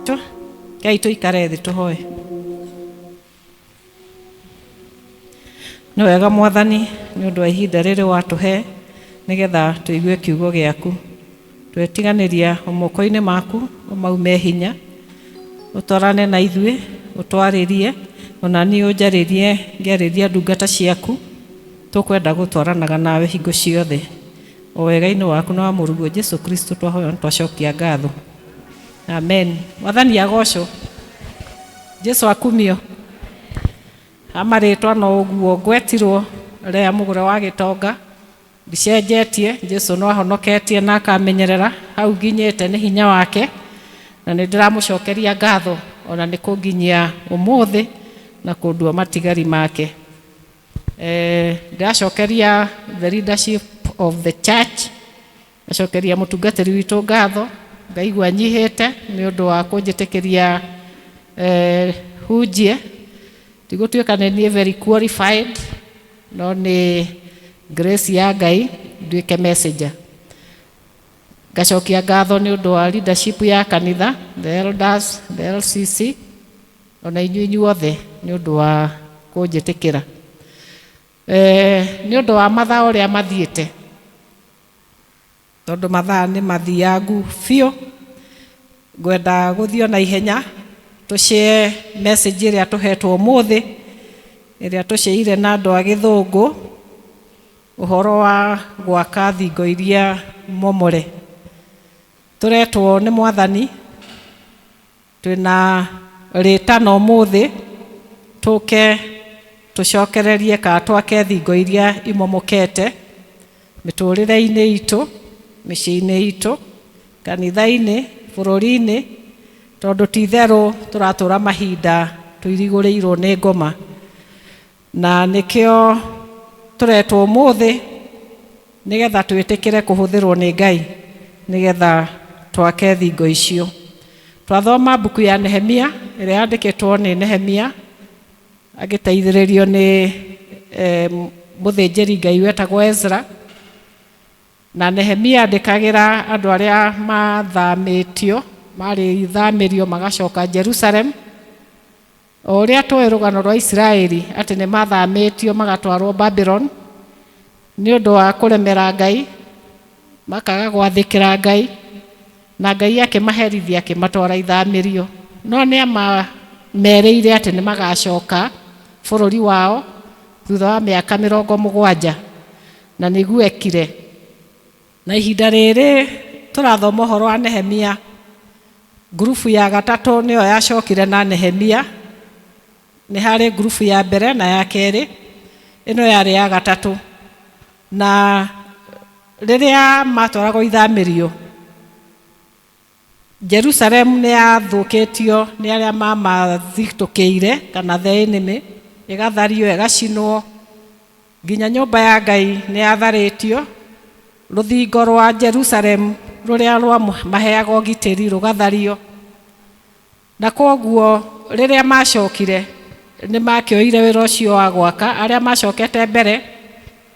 Tũ- Ngai tũikare thĩ tũhoe nĩ wega mwathani nĩ ũndũ wa ihinda rĩrĩ watũhe nĩgetha tũigue kiugo gĩaku twetiganĩria o moko-inĩ maku ũmaume hinya ũtwarane na ithuĩ ũtwarĩrie ona niĩ ũnjarĩrie ngĩarĩria ndungata ciaku tũkwenda gũtwaranaga nawe hingo ciothe O wegainĩ waku na wa mũruguo Jesu Kristo twahoya na twacokia ngatho. Amen. Mwathani agocwo. Jesu akumio. Amarĩtwa no ũguo ngwetirwo rĩa mũgũre wa gĩtonga ndicenjetie Jesu no ahonoketie na akamenyerera hau nginyĩte nĩ hinya wake na nĩ ndĩramũcokeria ngatho ona nĩ kũnginyia ũmũthĩ na kũndua matigari make. Eh, ndĩracokeria the leadership of the church ndacokeria mũtungatĩri witũ ngatho ngaigua nyihĩte nĩ ũndũ wa kũnjĩtĩkĩria eh, hunjie ndigũtuĩka nĩ niĩ very qualified no nĩ grace ya ngai nduĩke messenger ngacokia ngatho nĩ ũndũ wa leadership ya kanitha the elders the lcc O na inyuĩ inyuothe nĩ ũndũ wa kũnjĩtĩkĩra. Nĩ ũndũ wa mathaa ũrĩa mathiĩte, tondũ mathaa nĩ mathiangu biũ, ngwenda gũthiĩ o na ihenya tũ share message ĩrĩa tũhetwo ũmũthĩ, ĩrĩa tũ share ire na andũ a gĩthũngũ, ũhoro wa gwaka thingo iria momore. Tũretwo nĩ Mwathani Twĩna rĩtana ũmũthĩ, tũke tũcokererie kana twake thingo iria imomokete mĩtũrĩre-inĩ itũ, mĩciĩ-inĩ itũ, kanitha-inĩ, bũrũri-inĩ, tondũ ti itherũ tũratũra mahinda tũirigũrĩirwo nĩ ngoma. Na nĩkĩo tũretwo ũmũthĩ nĩgetha twĩtĩkĩre kũhũthĩrwo nĩ Ngai nĩgetha twake thingo icio. Twathoma mbuku ya Nehemia ĩrĩa yandĩkĩtwo nĩ Nehemia agĩteithĩrĩrio nĩ eh, mũthĩnjĩri Ngai wetagwo Ezra na Nehemia andĩkagĩra andũ arĩa mathamĩtio marĩthamĩrio magacoka Jerusalem O ũrĩa tũĩ rũgano rwa Isiraeli atĩ nĩ mathamĩtio magatwarwo Babylon nĩ ũndũ wa kũremera Ngai, makaga gwathĩkĩra Ngai, na Ngai akĩmaherithia akĩmatwara ithamĩrio. No nĩ amamerĩire atĩ nĩ magacoka bũrũri wao thutha wa mĩaka mĩrongo mũgwanja, na nĩguo ekire. Na ihinda rĩrĩ tũrathoma ũhoro wa Nehemia, ngurubu ya gatatũ nĩyo yacokire na Nehemia. Nĩ harĩ ngurubu ya mbere na ya kerĩ, ĩno yarĩ ya gatatũ. Na rĩrĩa matwaragwo ithamĩrio, Jerusalemu nĩ yathũkĩtio nĩ arĩa maamathitũkĩire, kana the enemy, ĩgathario, ĩgacinwo, nginya nyũmba ya Ngai nĩ yatharĩtio, rũthingo rwa Jerusalemu rũrĩa rwamaheaga ũgitĩri rũgathario. Na kwoguo rĩrĩa maacokire, nĩ maakĩoire wĩra ũcio wa gwaka. Arĩa maacokete mbere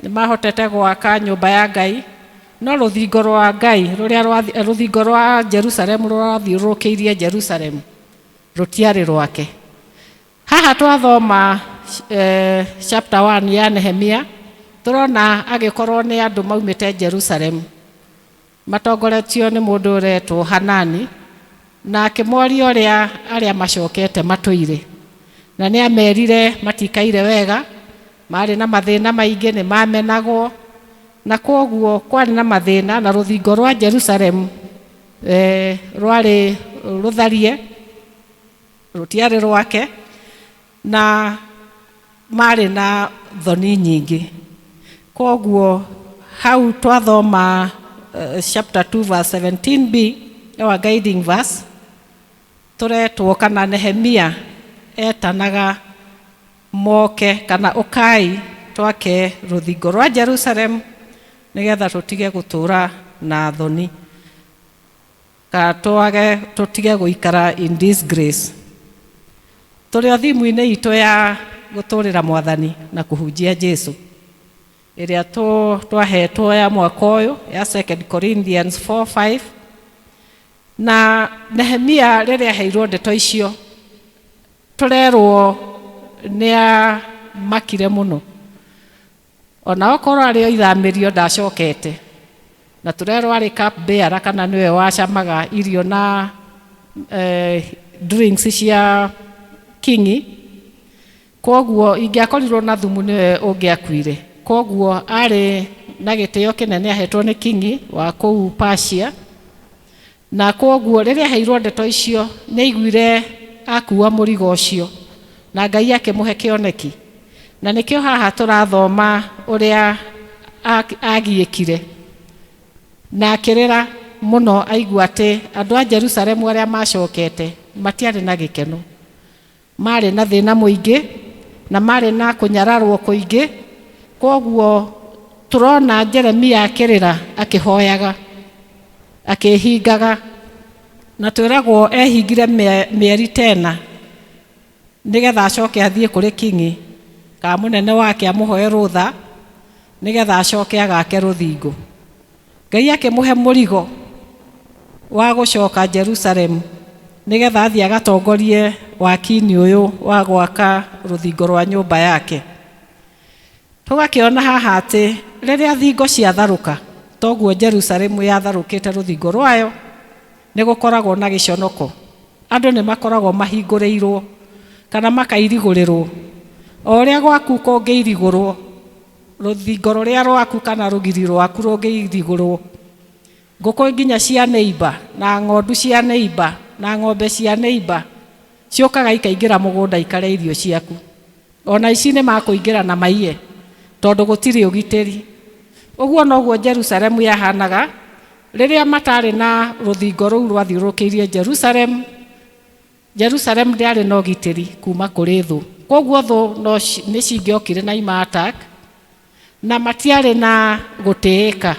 nĩ maahotete gwaka nyũmba ya Ngai, no rũthingo rwa Ngai, rũrĩa rwa, rũthingo rwa Jerusalemu rũrĩa rwathiũrũrũkĩirie Jerusalemu, rũtiarĩ rwake. Haha twathoma eh, chapter 1 ya Nehemia, tũrona agĩkorwo nĩ andũ maumĩte Jerusalemu. Matongoretio nĩ mũndũ ũretwo Hanani, na akĩmoria ũrĩa arĩa macokete matũire, na nĩ amerire matikaire wega, maarĩ na mathĩna maingĩ, nĩ mamenagwo, na kwoguo kwarĩ na mathĩna, na rũthingo rwa Jerusalemu e, rwarĩ rũtharie, rũtiarĩ rwake. Na maarĩ na thoni nyingĩ. Kwoguo hau twathoma chapter 2 verse 17b, our guiding verse, tũretwo kana Nehemia etanaga moke kana ũkai twake rũthingo rwa Jerusalem nĩgetha tũtige gũtũũra na thoni. Ka twage tũtige gũikara in disgrace tũrĩ o thimu-inĩ itũ ya gũtũrĩra Mwathani na kũhunjia Jesu ĩrĩa twahetwo ya mwaka ũyũ ya 2 Corinthians 4:5 na Nehemia rĩrĩa aheirwo ndeto icio tũrerwo nĩ amakire mũno O na okorwo arĩ o ithamĩrio ndacokete. Na tũrerwo arĩ cup bearer kana nĩwe wacamaga irio na drinks cia King'i. Kwoguo ingĩakorirwo na thumu nĩwe ũngĩakuire. Kwoguo arĩ na gĩtĩo kĩnene ahetwo nĩ King'i wa kũu Persia. Na kwoguo rĩrĩa aheirũo ndeto icio, nĩ aaiguire akuua mũrigo ũcio, na Ngai akĩmũhe kĩoneki. Na nĩkĩo haha tũrathoma ũrĩa aagiĩkire, na akĩrĩra mũno aigua atĩ andũ a Jerusalemu arĩa maacokete matiarĩ na gĩkeno. Maarĩ na thĩna mũingĩ na maarĩ na kũnyararũo kũingĩ. Kwoguo tũrona Jeremia akĩrĩra akĩhoyaga, akĩĩhingaga. Na twĩragwo eehingire mĩeri ta ĩna nĩgetha acoke athiĩ kũrĩ king'i kana mũnene wake amũhoe rũtha nĩgetha acoke agaake rũthingo. Ngai akĩmũhe mũrigo wa gũcoka Jerusalemu nĩgetha athiĩ agatongorie wakinĩ ũyũ wa gwaka rũthingo rwa nyũmba yake. Tũgakĩona haha atĩ rĩrĩa thingo ciatharũka toguo Jerusalemu yatharũkĩte rũthingo rwayo nĩ gũkoragwo na gĩconoko. Andũ nĩ makoragwo mahingũrĩirwo kana makairigũrĩrwo. O ũrĩa gwaku kũngĩirigũrwo Rũthingo rũrĩa rwaku kana rũgiri rwaku rũngĩirigũrũo, ngũkũ nginya cia neiba, na ng'ondu cia neiba, na ng'ombe cia neiba ciũkaga ikaingĩra mũgũnda ikarĩa irio ciaku. O na aici nĩ makũingĩra na maiye, tondũ gũtirĩ ũgitĩri. Ũguo noguo Jerusalemu yahaanaga rĩrĩa mataarĩ na rũthingo rũu rwathiũrũrũkĩirie Jerusalemu. Jerusalemu ndĩarĩ na ũgitĩri kuma kũrĩ thũ, kwoguo thũ no nĩ cingĩokire na ima attack na matiarĩ na gũtĩĩka.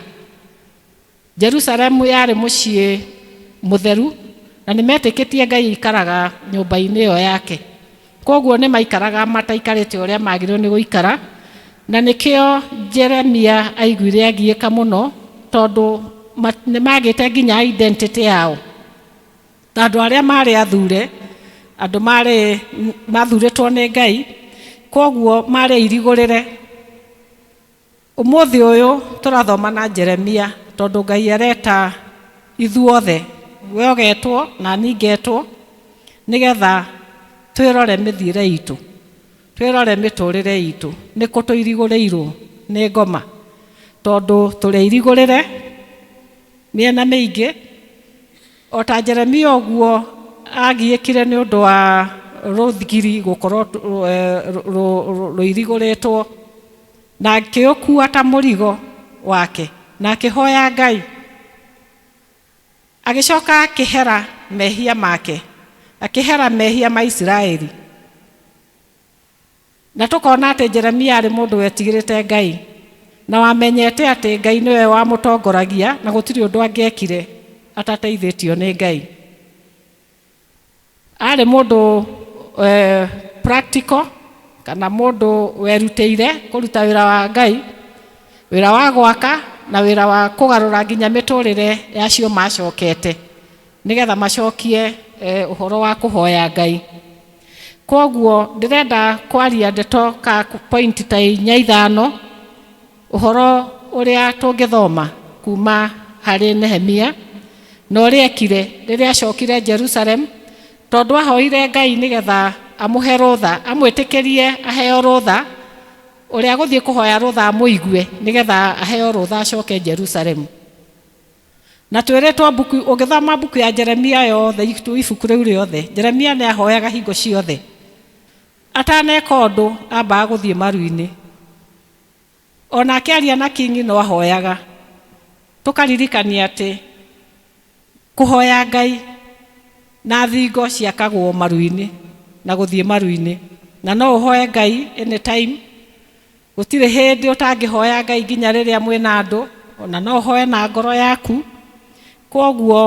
Jerusalemu yarĩ mũciĩ mũtheru na nĩ metĩkĩtie Ngai aikaraga nyũmba-inĩ ĩyo yake, kwoguo nĩ maikaraga mataikarĩte ũrĩa magĩrĩirwo nĩ gũikara, na nĩkĩo Jeremia aiguire agiĩka mũno tondũ nĩ magĩte nginya identity yao. Andũ arĩa maarĩ athuure, andũ maarĩ mathuurĩtwo nĩ Ngai, kwoguo maarĩ airigũrĩre. Ũmũthĩ ũyũ tũrathoma na Jeremia tondũ Ngai areta ithuothe, we ũgetwo na niĩ ngetwo, nĩgetha twĩrore mĩthiĩre itũ, twĩrore mĩtũrĩre itũ, nĩkũ tũirigũrĩirwo nĩ ngoma, tondũ tũrĩ airigũrĩre mĩena mĩingĩ. O ta Jeremia ũguo aagiĩkire nĩ ũndũ wa rũthigiri gũkorwo rũirigũrĩtwo, na akĩũkuua ta mũrigo wake, na akĩhoya Ngai, agĩcoka akĩhera mehia make, akĩhera mehia ma Isiraeli. Na tũkona atĩ Jeremia aarĩ mũndũ wetigĩrĩte Ngai, na wamenyete atĩ Ngai nĩwe wamũtongoragia na gũtirĩ ũndũ angĩekire atateithĩtio nĩ Ngai. Aarĩ mũndũ practical kana mũndũ werutĩire kũruta wĩra wa Ngai, wĩra wa gwaka na wĩra wa kũgarũra nginya mĩtũrĩre ya acio macokete. nĩgetha macokie ũhoro wa kũhoya Ngai. Kwoguo ndĩrenda kwaria ndeto ka point ta inya ithano ũhoro ũrĩa tũngĩthoma kuma harĩ Nehemia na ũrĩa ekire rĩrĩa acokire Jerusalem, tondũ ahoire Ngai nĩgetha amũhe rũtha, amwĩtĩkĩrie aheo rũtha, ũrĩa gũthiĩ kũhoya rũtha amũigue nĩgetha aheo rũtha acoke Jerusalem. Na twĩrĩtwo mbuku, ũngĩthoma mbuku ya Jeremia yothe, itu- ibuku rĩu rĩothe, Jeremia nĩ ahoyaga hingo ciothe. Ataneka ũndũ, ambaga gũthiĩ maru-inĩ. O na akĩaria na kingi no ahoyaga. Tũkaririkania atĩ kũhoya Ngai na thingo ciakagwo maru-inĩ na gũthiĩ maru-inĩ. Na no ũhoye Ngai anytime. Gũtirĩ hĩndĩ ũtangĩhoya Ngai nginya rĩrĩa mwĩ na andũ, o na no ũhoe na ngoro yaku. Kwoguo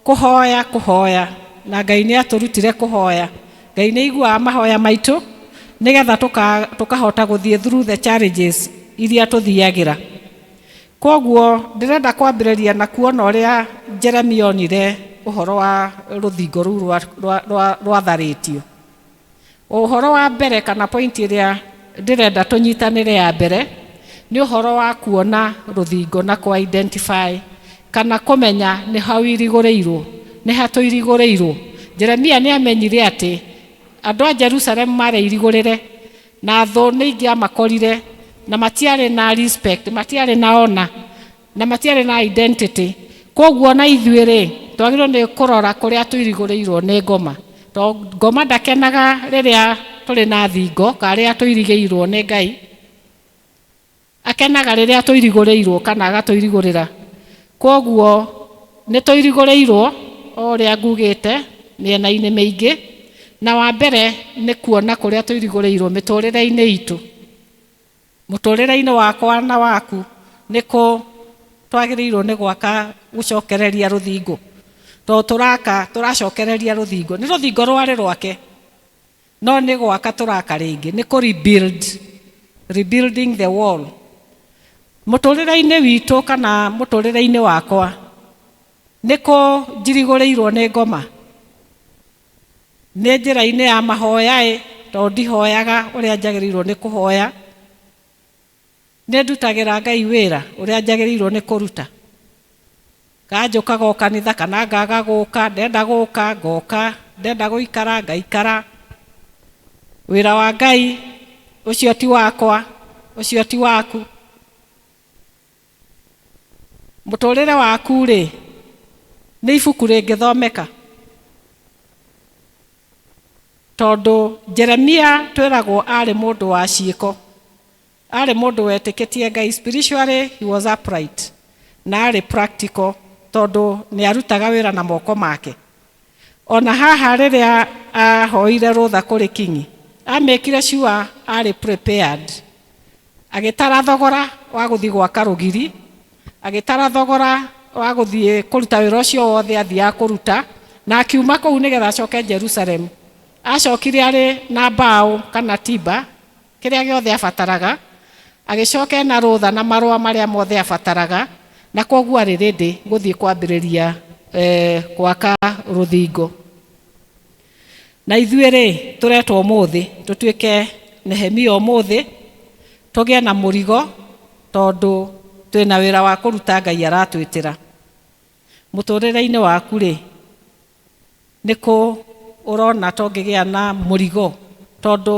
kũhoya, kũhoya, na Ngai nĩ atũrutire kũhoya. Ngai nĩ aiguaga mahoya maitũ nĩgetha tũkahota gũthiĩ through the challenges iria tũthiagĩra. Kwoguo ndĩrenda kwambĩrĩria na kuona ũrĩa Jeremia onire ũhoro wa rũthingo rũu rwatharĩtio. Ũhoro wa mbere kana point ĩrĩa ndĩrenda tũnyitanĩre ya mbere nĩ ũhoro wa kuona rũthingo na kũ identify kana kũmenya nĩ ha ũirigũrĩirwo, nĩ ha tũirigũrĩirwo. Jeremia nĩ amenyire atĩ andũ a Jerusalem maarĩ airigũrĩre na thũ nĩ ingĩamakorire na matiarĩ na respect, matiarĩ na honor. Na matiarĩ na identity. Kwoguo o na ithuĩ rĩ, twagĩrĩirwo nĩ kũrora kũrĩa tũirigũrĩirwo nĩ Ngoma. To Ngoma ndakenaga rĩrĩa tũrĩ na thingo, kana rĩrĩa tũirigĩirwo nĩ Ngai. Akenaga rĩrĩa tũirigũrĩirwo kana agatũirigũrĩra. Kwoguo nĩ tũirigũrĩirwo o ũrĩa ngugĩte mĩena-inĩ mĩingĩ. Na wa mbere nĩ kuona kũrĩa tũirigũrĩirwo mĩtũrĩre-inĩ itũ. Mũtũrĩre-inĩ wakwa na waku, nĩ kũ twagĩrĩirwo nĩ gwaka gũcokereria rũthingo? Tondũ tũraka, tũracokereria rũthingo. Nĩ rũthingo rwarĩ rwake, no nĩ gwaka tũraka rĩngĩ, nĩ kũ rebuild, rebuilding the wall. Mũtũrĩre-inĩ witũ kana mũtũrĩre-inĩ wakwa, nĩ kũ njirigũrĩirwo nĩ ngoma? Nĩ njĩra-inĩ ya mahoya-ĩ, tondũ ndihoyaga ũrĩa njagĩrĩirwo nĩ kũhoya, nĩ ndutagĩra Ngai wĩra ũrĩa njagĩrĩirwo nĩ kũruta? Kana njũkaga o kanitha kana ngaga gũka, ndenda gũka ngoka, ndenda gũikara ngaikara? Wĩra wa Ngai ũcio ti wakwa, ũcio ti waku. Mũtũũrĩre waku-rĩ, nĩ ibuku rĩngĩthomeka? Tondũ Jeremia twĩragwo aarĩ mũndũ wa ciĩko, aarĩ mũndũ wetĩkĩtie Ngai, spiritually he was upright, na aarĩ practical tondũ nĩ arutaga wĩra na moko make. O na haha rĩrĩa ahoire rũtha kũrĩ king'i, amekire sure arĩ prepared. Agĩtara thogora wa gũthiĩ gwaka rũgiri, agĩtara thogora wa gũthiĩ kũruta wĩra ũcio wothe athiaga kũruta, na akiuma kũu nĩgetha acoke Jerusalem. Acokire arĩ na mbaũ kana timber Kĩrĩa gĩothe aabataraga, agĩcoka ena rũtha na marũa marĩa mothe aabataraga, na kwoguo arĩ ready gũthiĩ kwambĩrĩria gwaka rũthingo. Na ithuĩ-rĩ, tũretwo ũmũthĩ tũtuĩke Nehemia ũmũthĩ, tũgĩe na mũrigo tondũ twĩna wĩra wa kũruta Ngai aratwĩtĩra. Mũtũrĩre-inĩ waku-rĩ, nĩkũ ũrona to ngĩgĩa na mũrigo tondũ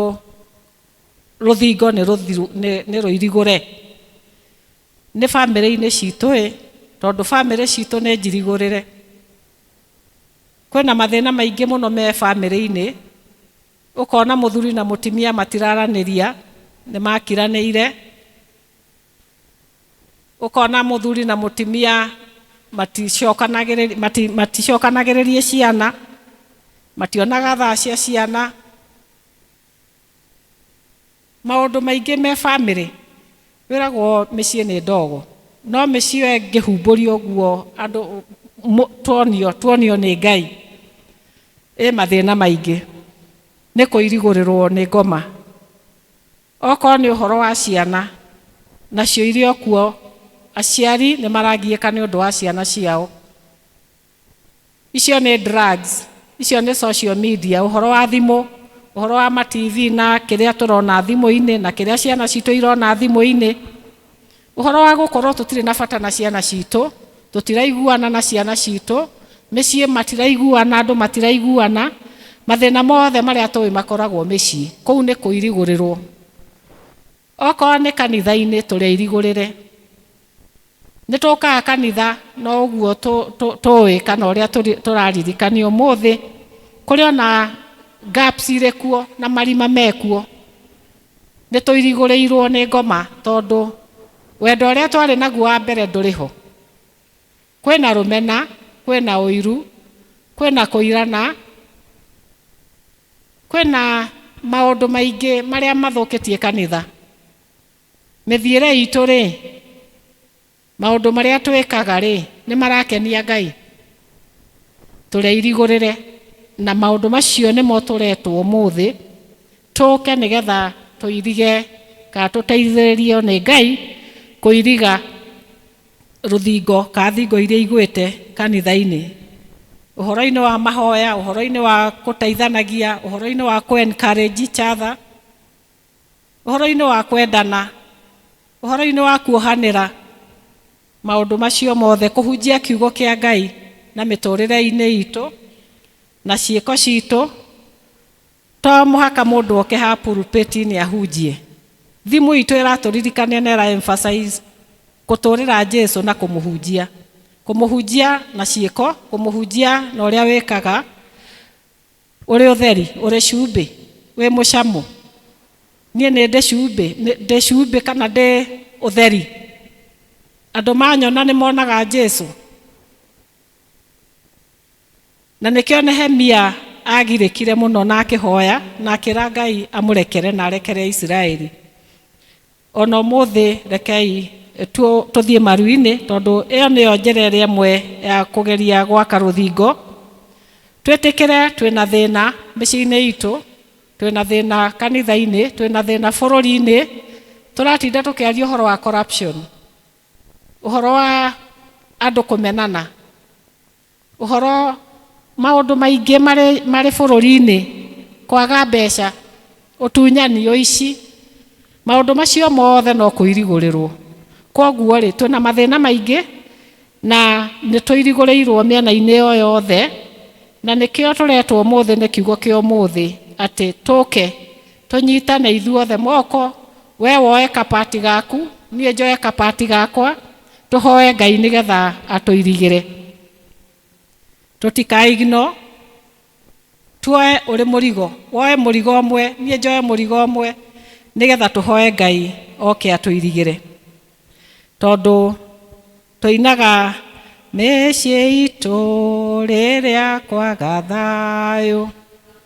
rũthingo nĩ rũthiru nĩ nĩ rũirigũre. Nĩ bamĩrĩ-inĩ citũ ĩ, tondũ bamĩrĩ citũ nĩ njirigũrĩre. Kwĩna mathĩna maingĩ mũno me bamĩrĩ-inĩ, ũkona mũthuri na mũtumia matiraranĩria, nĩ makiranĩire. Ũkona mũthuri na mũtimia maticokanagĩrĩria ciana, mationaga thaa cia ciana, maũndũ maingĩ me bamĩrĩ, wĩragwo mĩciĩ nĩ ndogo, no mĩciĩ ĩyo ĩngĩhumbũrio ũguo andũ tuonio, tuonio nĩ Ngai, ĩ mathĩna maingĩ, nĩ kũirigũrĩrwo nĩ ngoma. Okorwo nĩ ũhoro wa ciana, nacio irĩ o kuo, aciari nĩ maragiĩka nĩ ũndũ wa ciana ciao. Icio nĩ drugs, icio nĩ social media, ũhoro wa thimũ, ũhoro wa ma TV na kĩrĩa tũrona thimũ-inĩ na kĩrĩa ciana citũ irona thimũ-inĩ. Ũhoro wa gũkorwo tũtirĩ na bata na ciana citũ, tũtiraiguana na ciana citũ, mĩciĩ matiraiguana, andũ matiraiguana, mathĩna mothe marĩa tũĩ makoragwo mĩciĩ, kũu nĩ kũirigũrĩrwo. Okorwo nĩ kanitha-inĩ tũrĩ airigũrĩre. Nĩ tũkaga kanitha no ũguo tũĩ kana ũrĩa tũraririkanio ũmũthĩ kũrĩ ona gaps irĩ kuo na marima me kuo. nĩ tũirigũrĩirũo nĩ ngoma tondũ wendo ũrĩa twarĩ naguo wa mbere ndũrĩ ho. Kwĩna rũmena, kwĩna ũiru, kwĩna kũirana, kwĩna maũndũ maingĩ marĩa mathũkĩtie kanitha. Mĩthiĩre itũ-rĩ, Maũndũ marĩa twĩkaga-rĩ, nĩ marakenia Ngai? Tũreirigũrĩre na maũndũ macio nĩmo tũretwo ũmũthĩ tũke nĩ getha tũirige kana tũteithĩrĩrio nĩ Ngai kũiriga rũthingo kana thingo iria igwĩte kanitha-inĩ, ũhoro-inĩ wa mahoya, ũhoro-inĩ wa gũteithanagia, ũhoro-inĩ wa kũ encourage each other. ũhoro-inĩ wa kwendana, ũhoro-inĩ wa kuohanĩra maũndũ macio mothe, kũhunjia kiugo kĩa Ngai na mĩtũrĩre-inĩ itũ na ciĩko citũ. To mũhaka mũndũ oke haha pulpit-inĩ ahunjie. Thimũ itũ ĩratũririkania na ĩra emphasize kũtũrĩra Jesu na kũmũhunjia. Kũmũhunjia na ciĩko, kũmũhunjia na ũrĩa wĩkaga. ũrĩ ũtheri ũrĩ cumbĩ wĩ mũcamo niĩ nĩ ndĩ cumbĩ nĩ- ndĩ cumbĩ kana ndĩ ũtheri andũ manyona nĩ monaga jesu na nĩkĩo nehemia agirĩkire mũno na akĩhoya na akĩra ngai amũrekere na arekere isiraeli O na ũmũthĩ rekei tũthiĩ maru-inĩ, tondũ ĩyo nĩyo njĩra ĩrĩa ĩmwe ya kũgeria gwaka rũthingo. Twĩtĩkĩre twĩ na thĩna mĩciĩ-inĩ itũ, twĩ na thĩna kanitha-inĩ, twĩ na thĩna bũrũri-inĩ, tũratinda tũkĩaria ũhoro wa corruption, ũhoro wa andũ kũmenana. Ũhoro, Maũndũ maingĩ marĩ marĩ bũrũri-inĩ, kwaga mbeca, ũtunyani, ũici, maũndũ macio mothe no kũirigũrĩrũo. Kwoguo-rĩ, twĩ na mathĩna maingĩ na nĩ tũirigũrĩirũo mĩena-inĩ ĩyo yothe, na nĩkĩo tũretwo ũmũthĩ nĩ Kiugo kĩa ũmũthĩ atĩ tũke tũnyitane ithuothe moko, wee woe ka part gaku, niĩ njoe ka part gakwa, Tũhoe Ngai nĩ getha atũirigĩre. Tũtikae ignore. Tuoe ũrĩ mũrigo. Woe mũrigo ũmwe, niĩ njoe mũrigo ũmwe nĩ getha tũhoe Ngai oke atũirigĩre. Tondũ tũinaga mĩciĩ itũ rĩrĩa kwaga thayũ.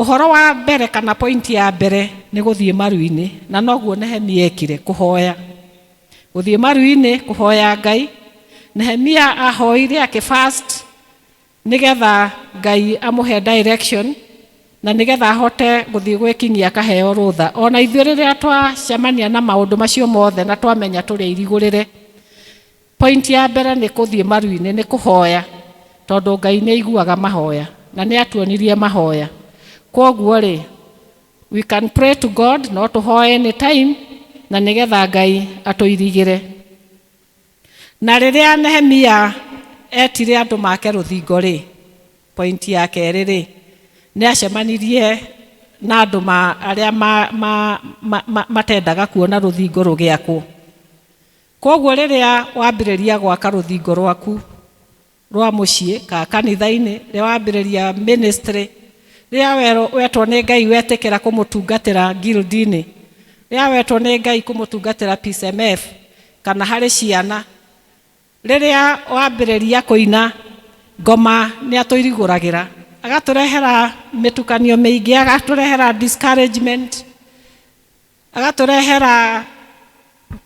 Ũhoro wa mbere kana point ya mbere nĩ gũthiĩ maru-inĩ na noguo Nehemia ekire, kũhoya. Gũthiĩ maru-inĩ kũhoya Ngai, Nehemia ahoire akĩ fast nĩgetha Ngai amũhe direction na nĩgetha ahote gũthiĩ gwĩ kingi akaheo rũtha. Ona ithuĩ rĩrĩa twacemania na maũndũ macio mothe na twamenya tũrĩ airigũrĩre, Point ya mbere nĩ kũthiĩ maruinĩ nĩ kũhoya tondũ Ngai nĩ aiguaga mahoya na nĩ atuonirie mahoya kwoguo rĩ we can pray to God no tũhoe any time na nĩ getha Ngai atũirigĩre na rĩrĩa Nehemia etire andũ make rũthingo rĩ point ya kerĩ rĩ nĩ acemanirie na andũ ma arĩa ma ma matendaga kuona rũthingo rũgĩakwo Kwoguo rĩrĩa wambĩrĩria gwaka rũthingo rwaku rwa mũciĩ, kana kanitha-inĩ, rĩrĩa wambĩrĩria ministry, rĩrĩa werwo, wetwo nĩ Ngai wetĩkĩra kũmũtungatĩra guild-inĩ, rĩrĩa wetwo nĩ Ngai kũmũtungatĩra PCMF, kana harĩ ciana, rĩrĩa wambĩrĩria kũina ngoma nĩ atũirigũragĩra, agatũrehera mĩtukanio mĩingĩ, agatũrehera discouragement. agatũrehera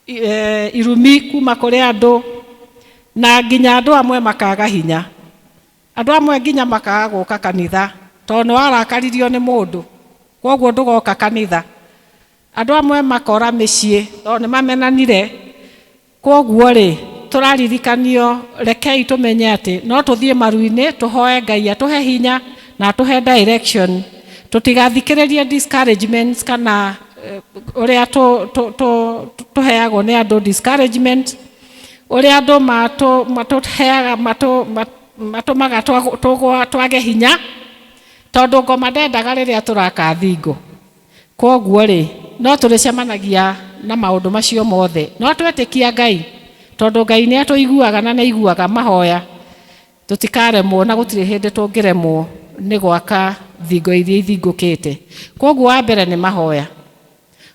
e, irumi kuma kũrĩ andũ na nginya andũ amwe makaga hinya andũ amwe nginya makaga gũka kanitha tondũ nĩ warakaririo nĩ mũndũ koguo ndũgoka kanitha andũ amwe makora mĩciĩ tondũ nĩ mamenanire Kwoguo-rĩ, tũraririkanio, rekei tũmenye atĩ no tũthiĩ maru-inĩ tũhoe Ngai atũhe hinya na atũhe direction, tũtigathikĩrĩrie discouragements kana ũrĩa tũheagwo nĩ andũ discouragements, ũrĩa andũ matũheaga, matũmaga tũage hinya, tondũ ngoma ndendaga rĩrĩa tũraka thingo. Kwoguo-rĩ, no tũrĩcemanagia na maũndũ macio mothe. No twetĩkia Ngai, tondũ Ngai nĩ atũiguaga na nĩ aiguaga mahoya, tũtikaremwo na gũtirĩ hĩndĩ tũngĩremwo nĩ gwaka thingo iria ithingũkĩte. Kwoguo wa mbere nĩ mahoya.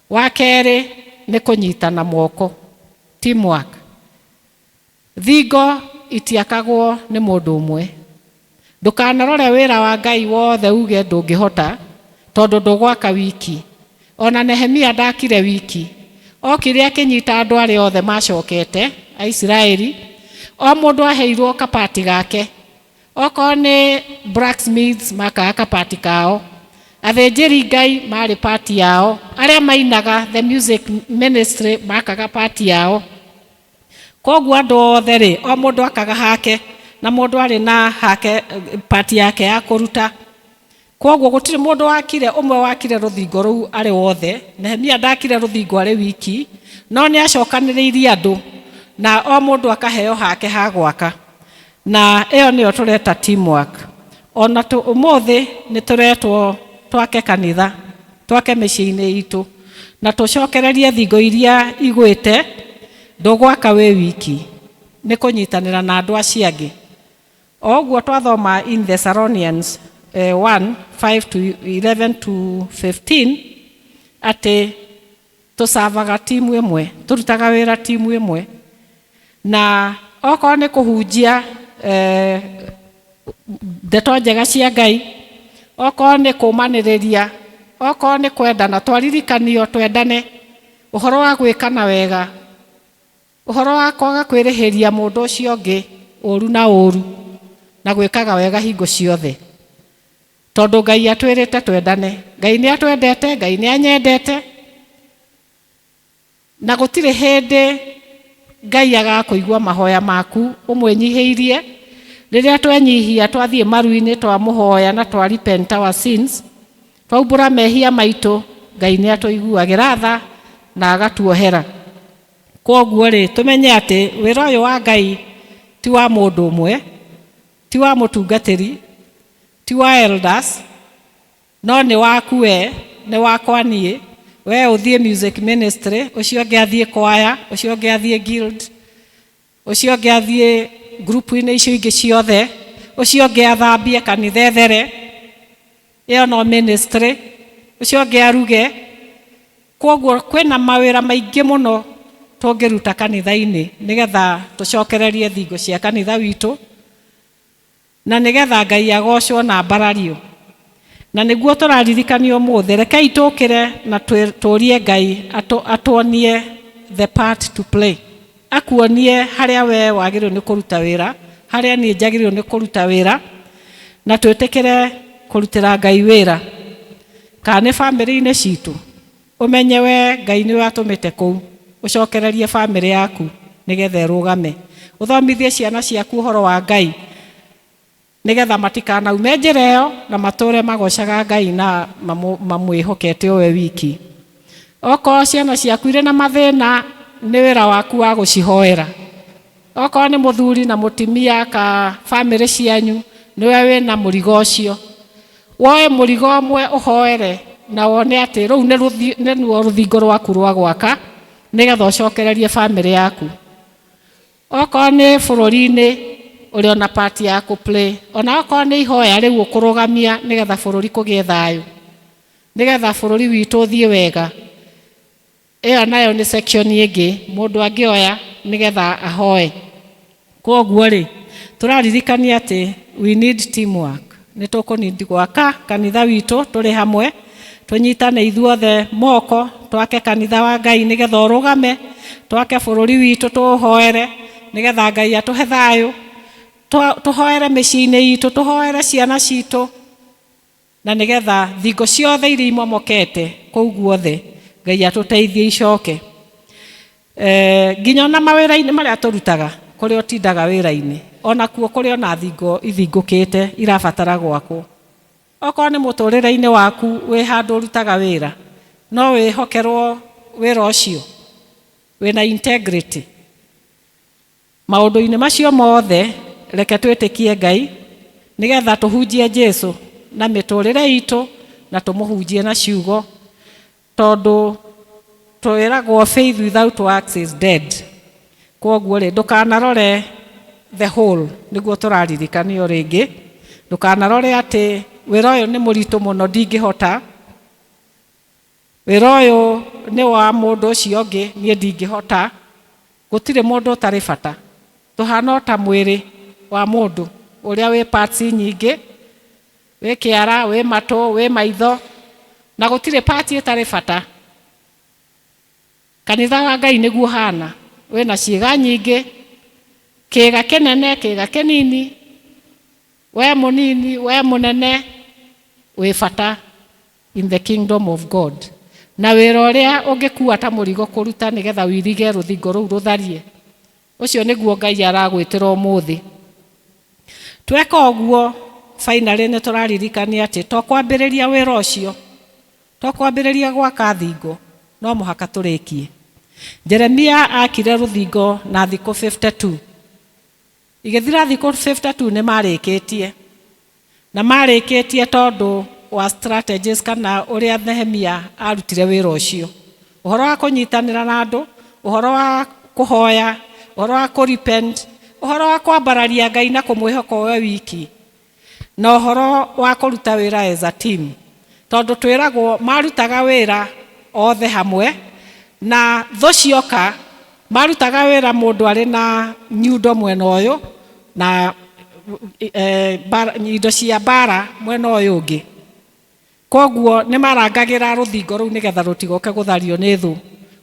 Wa kerĩ nĩ kũnyitana moko, teamwork. Thingo itiakagwo nĩ mũndũ ũmwe. Ndũkanarore wĩra wa Ngai wothe uuge ndũngĩhota, tondũ ndũgwaka wiki. O na Nehemia ndaakire wiki. Ookire akĩnyita andũ arĩa othe maacokete, Aisiraeli, o mũndũ aheirũo kabati gake. Okorũo nĩ blacksmiths maakaga kabati kao. Athĩnjĩri Ngai maarĩ part yao. Arĩa mainaga, the music ministry, maakaga part yao. Koguo andũ othe-rĩ, o mũndũ akaga hake, na mũndũ arĩ na hake, part yake ya kũruta. Koguo gũtirĩ mũndũ wakire, ũmwe wakire rũthingo rũu arĩ wothe, Nehemia ndaakire rũthingo arĩ wiki, no nĩacokanĩrĩirie andũ, na o mũndũ akaheo hake ha gwaka. Na ĩyo nĩyo tũreta teamwork. O na tũ, ũmũthĩ nĩ tũretwo twake kanitha, twake mĩciĩ-inĩ itũ, na tũcokererie thingo iria igwĩte. Ndũgwaka wĩ wiki, nĩ kũnyitanĩra na andũ acio angĩ. O ũguo twathoma in Thessalonians 1, 5 to 11 to 15, atĩ, Tũcavaga timu ĩmwe, tũrutaga wĩra timu ĩmwe, na okorwo nĩ kũhunjia ndeto njega cia Ngai, okorwo nĩ kũmanĩrĩria, okorwo nĩ kwendana, twaririkanio twendane, ũhoro wa gwĩkana wega, ũhoro wa kwaga kwĩrĩhĩria mũndũ ũcio ũngĩ ũru na ũru, na gwĩkaga wega hingo ciothe. Tondũ Ngai atwĩrĩte twendane. Ngai nĩ atwendete, Ngai nĩ anyendete, na gũtirĩ hĩndĩ Ngai agakũigua mahoya maku ũmwĩnyihĩirie. Rĩrĩa twenyihia, twathiĩ maru-inĩ, twamũhoya na twa repent our sins, twaumbũra mehia maitũ, Ngai nĩ atũiguagĩra tha na agatuohera. Kwoguo rĩ, tũmenye atĩ wĩra ũyũ wa Ngai ti wa mũndũ ũmwe, ti wa mũtungatĩri, Ti wa elders no nĩ waku wee, nĩ wakwa niĩ, wee ũthiĩ music ministry, ũcio ũngĩ athiĩ kwaya, ũcio ũngĩ athiĩ guild, ũcio ũngĩ athiĩ ngurubu-inĩ icio ingĩ ciothe, ũcio ũngĩ athambie kanitha ethere, ĩyo no ministry, ũcio ũngĩ aruge. Kwoguo kwĩna mawĩra maingĩ mũno tũngĩruta kanitha-inĩ nĩgetha tũcokererie thingo cia kanitha witũ. Na nĩ getha Ngai agoocwo na mbarario. Na nĩguo tũraririkania ũmũthĩ, rekei tũũkĩre na tũũrie Ngai atuonie the part to play. Akuonie harĩa wee wagĩrĩirwo nĩ kũruta wĩra, harĩa niĩ njagĩrĩirwo nĩ kũruta wĩra, na twĩtĩkĩre kũrutĩra Ngai wĩra. Kana nĩ famĩlĩ-inĩ citũ, Ũmenye we Ngai nĩwe atũmĩte kũu, ũcokererie famĩlĩ yaku nĩgetha ĩrũgame. Ũthomithie ciana ciaku ũhoro wa Ngai nĩgetha matikanaume njĩra ĩyo na matũũre magoocaga Ngai na mamwĩhokete o we wiki. Okorwo ciana ciaku irĩ na mathĩna, nĩ wĩra waku wa gũcihoera Okorwo nĩ mũthuri na mũtimia ka famĩlĩ cianyu nĩwe wĩna mũrigo ũcio, woe mũrigo ũmwe ũhoere na wone atĩ rũu nĩruo rũthingo rwaku rwa gwaka nĩgetha ũcokererie famĩlĩ yaku. Okorwo nĩ bũrũri-inĩ ũrĩ ona part ya kũ pray, ona okorwo nĩ ihoya rĩu ũkũrũgamia nĩgetha bũrũri kũgĩe thayũ, nĩgetha bũrũri witũ ũthiĩ wega. Ĩyo nayo nĩ section ĩngĩ mũndũ angĩoya nĩgetha ahoe. Kwoguo-rĩ, tũraririkania atĩ we need team work. Nĩ tũkũ need gwaka kanitha witũ tũrĩ hamwe, tũnyitane ithuothe moko, twake kanitha wa Ngai nĩgetha ũrũgame, twake bũrũri witũ tũũhoere nĩgetha Ngai atũhe thayũ, tũhoere mĩciĩ-inĩ itũ, tũhoere ciana citũ. Na nĩ getha thingo ciothe iria imomokete kũu guothe Ngai atũteithie icoke. Eh, nginya ona mawĩra-inĩ marĩa tũrutaga, kũrĩa ũtindaga wĩra-inĩ, ona kuo kũrĩ ona thingo ithingũkĩte irabatara gwakwo. Okorwo nĩ mũtũrĩre-inĩ waku wĩ handũ ũrutaga wĩra, no wĩhokerwo wĩra ũcio wĩna integrity. Maũndũ-inĩ macio mothe, reke twĩtĩkie Ngai nĩ getha tũhunjie Jesu na mĩtũũrĩre itũ na tũmũhunjie na ciugo, tondũ twĩragwo faith without works is dead. Kwoguo-rĩ, ndũkanarore the whole, nĩguo tũraririkanio rĩngĩ, ndũkanarore atĩ wĩra ũyũ nĩ mũritũ mũno ndingĩhota. Wĩra ũyũ nĩ wa mũndũ ũcio ũngĩ, niĩ ndingĩhota. Gũtirĩ mũndũ ũtarĩ bata. Tũhaana o ta mwĩrĩ wa mũndũ ũrĩa wĩ parts nyingĩ, wĩ kĩara, wĩ matũ, wĩ maitho, na gũtirĩ part ĩtarĩ bata. Kanitha wa Ngai nĩguo ũhaana. Wĩ na ciĩga nyingĩ, kĩĩga kĩnene, kĩĩga kĩnini, we mũnini, we mũnene, wĩ bata. in the kingdom of God, na wĩra ũrĩa ũngĩkuua ta mũrigo kũruta nĩ getha ũirige rũthingo rũu rũtharie, ũcio nĩguo Ngai aragwĩtĩra ũmũthĩ. Tweka ũguo, finally nĩ tũraririkania atĩ to kwambĩrĩria wĩra ũcio, to kwambĩrĩria gwaka thingo, no mũhaka tũrĩkie. Jeremia aakire rũthingo na thikũ 52. Igĩthira thikũ 50 tu nĩ maarĩkĩtie. Na maarĩkĩtie tondũ wa strategies kana ũrĩa Nehemia aarutire wĩra ũcio. Ũhoro wa kũnyitanĩra na andũ, ũhoro wa kũhoya, ũhoro wa kũ-repent, ũhoro wa kwambararia Ngai na kũmwĩhoka we wiki, Na ũhoro wa kũruta wĩra as a team, tondũ twĩragwo marutaga wĩra othe hamwe na thũ cioka marutaga wĩra mũndũ arĩ na nyundo mwena ũyũ na indo cia mbara mwena ũyũ ũngĩ. Kwoguo nĩ marangagĩra rũthingo rũu nĩgetha rũtigoke gũthario nĩ thũ.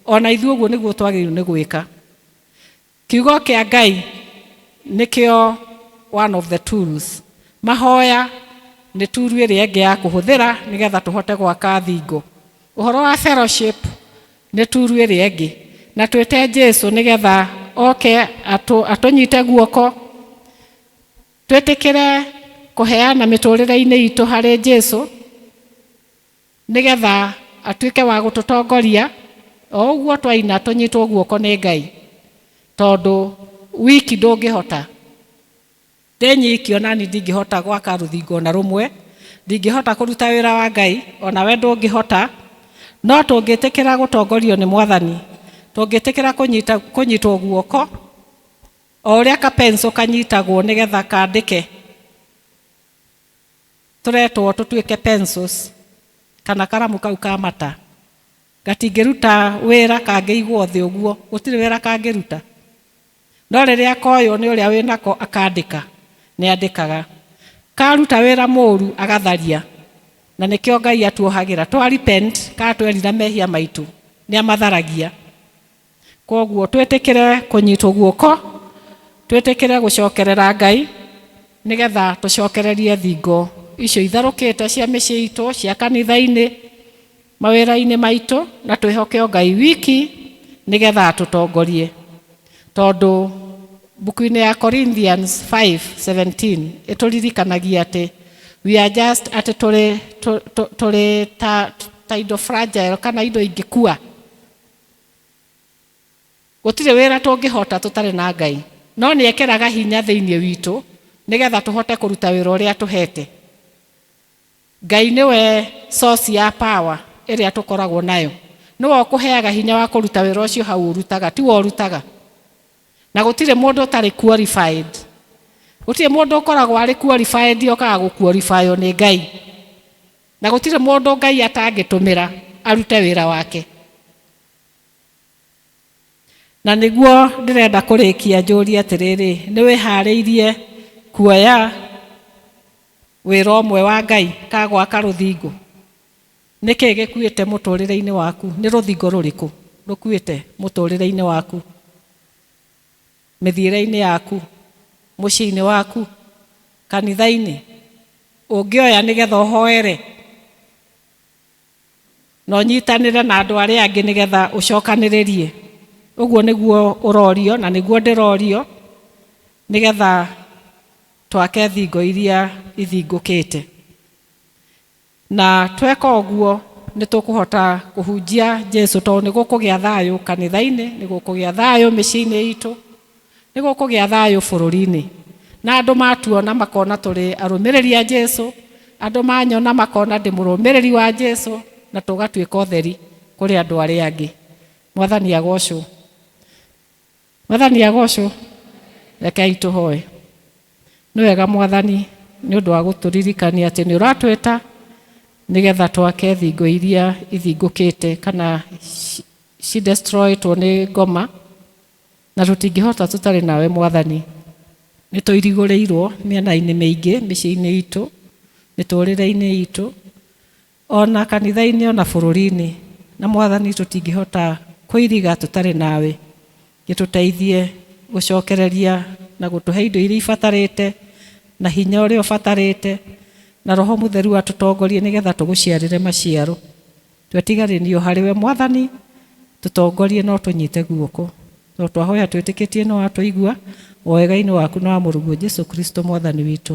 Ona ithuĩ ũguo nĩguo twagĩrĩirwo nĩ gwĩka. Kiugo kĩa Ngai nĩkĩo one of the tools. Mahoya nĩ tool ĩrĩa ĩngĩ ya kũhũthĩra nĩgetha tũhote gwaka thingo. Ũhoro wa fellowship nĩ tool ĩrĩa ĩngĩ. Na twĩte Jesu nĩgetha oke atũnyite guoko, twĩtĩkĩre kũheana mĩtũrĩre-inĩ itũ harĩ Jesu. Nĩ getha atuĩke wa gũtũtongoria, o ũguo twaina tũnyitwo guoko nĩ Ngai, tondũ wiki ndũngĩhota. Ndĩ nyiki o nani ndingĩhota gwaka rũthingo o na rũmwe, ndingĩhota kũruta wĩra wa Ngai, o na we ndũngĩhota, no tũngĩtĩkĩra gũtongorio nĩ Mwathani, tũngĩtĩkĩra kũnyita, kũnyitwo guoko, o ũrĩa ka pencil kanyitagwo nĩ getha kandĩke. tũretwo tũtuĩke pencils kana karamu kau ka mata gatingĩruta wĩra kangĩigwo thĩ ũguo gũtirĩ wĩra kangĩruta no rĩrĩa koywo nĩ ũrĩa wĩ nako akandĩka nĩ andĩkaga karuta wĩra mũru agatharia na nĩkĩo ngai atuohagĩra twa repent kana twerira mehia maitũ nĩ amatharagia Kwoguo twĩtĩkĩre kũnyitwo guoko, twĩtĩkĩre gũcokerera Ngai nĩgetha tũcokererie thingo icio itharũkĩte cia mĩciĩ itũ, cia kanitha-inĩ, mawĩra-inĩ maitũ na twĩhoke o Ngai wiki nĩgetha atũtongorie. Tondũ mbuku-inĩ ya Corinthians 5:17 ĩtũririkanagia atĩ we are just atĩ tũrĩ tũrĩ ta indo fragile kana indo ingĩkua. Gũtirĩ wĩra tũngĩhota tũtarĩ na Ngai, no nĩ ekĩraga hinya thĩinĩ witũ nĩ getha tũhote kũruta wĩra ũrĩa atũhete. Ngai nĩwe source ya power ĩrĩa tũkoragwo nayo. Nĩwe ũkũheaga hinya wa kũruta wĩra ũcio hau ũrutaga, tiwe ũrutaga. Na gũtirĩ mũndũ ũtarĩ qualified. Gũtirĩ mũndũ ũkoragwo arĩ qualified okaga gũ qualify o nĩ Ngai. Na gũtirĩ mũndũ Ngai atangĩtũmĩra arute wĩra wake. Na nĩguo ndĩrenda kũrĩkia njũũrie atĩrĩrĩ, nĩ wĩhaarĩirie kuoya wĩra ũmwe wa Ngai ta gwaka rũthingo? Nĩ kĩĩ gĩkuĩte mũtũũrĩre-inĩ waku? Nĩ rũthingo rũrĩkũ rũkuĩte mũtũũrĩre-inĩ waku? Mĩthiĩre-inĩ yaku, mũciĩ-inĩ waku, kanitha-inĩ, ũngĩoya nĩgetha ũhoere na ũnyitanĩre na andũ arĩa angĩ nĩgetha ũcokanĩrĩrie? Ũguo nĩguo ũrorio na nĩguo ndĩrorio nĩgetha twake thingo iria ithingũkĩte. Na tweka ũguo, nĩ tũkũhota kũhunjia Jesu, tondũ nĩ gũkũgĩa thayũ kanitha-inĩ, nĩ gũkũgĩa thayũ mĩciĩ-inĩ itũ, nĩ gũkũgĩa thayũ bũrũri-inĩ. Na andũ matuona makona tũrĩ arũmĩrĩri a Jesu, andũ manyona makona ndĩ mũrũmĩrĩri wa Jesu, na tũgatuĩka ũtheri kũrĩ andũ arĩa angĩ. Mwathani agocwo. Mwathani agocwo. Rekei tũhoe. Nĩ wega Mwathani nĩ ũndũ wa gũtũririkania atĩ nĩ ũratwĩta nĩgetha twake thingo iria ithingũkĩte kana ci destroyĩtwo nĩ ngoma na tũtingĩhota tũtarĩ nawe Mwathani. Nĩ tũirigũrĩirwo mĩena-inĩ mĩingĩ mĩciĩ-inĩ itũ, mĩtũrĩre-inĩ itũ. O na kanitha-inĩ o na bũrũri-inĩ. Na Mwathani tũtingĩhota kũiriga tũtarĩ nawe. Gĩtũteithie gũcokereria na gũtũhe indo iria ibatarĩte, na hinya ũrĩa ũbatarĩte, na Roho Mũtheru atũtongorie nĩ getha tũgũciarĩre maciaro. Twetiganĩrio harĩ we Mwathani, tũtongorie na ũtũnyite guoko. Tondũ twahoya twĩtĩkĩtie nĩ watũigua, o wega-inĩ waku na wa Mũrũguo Jesu Kristo Mwathani witũ.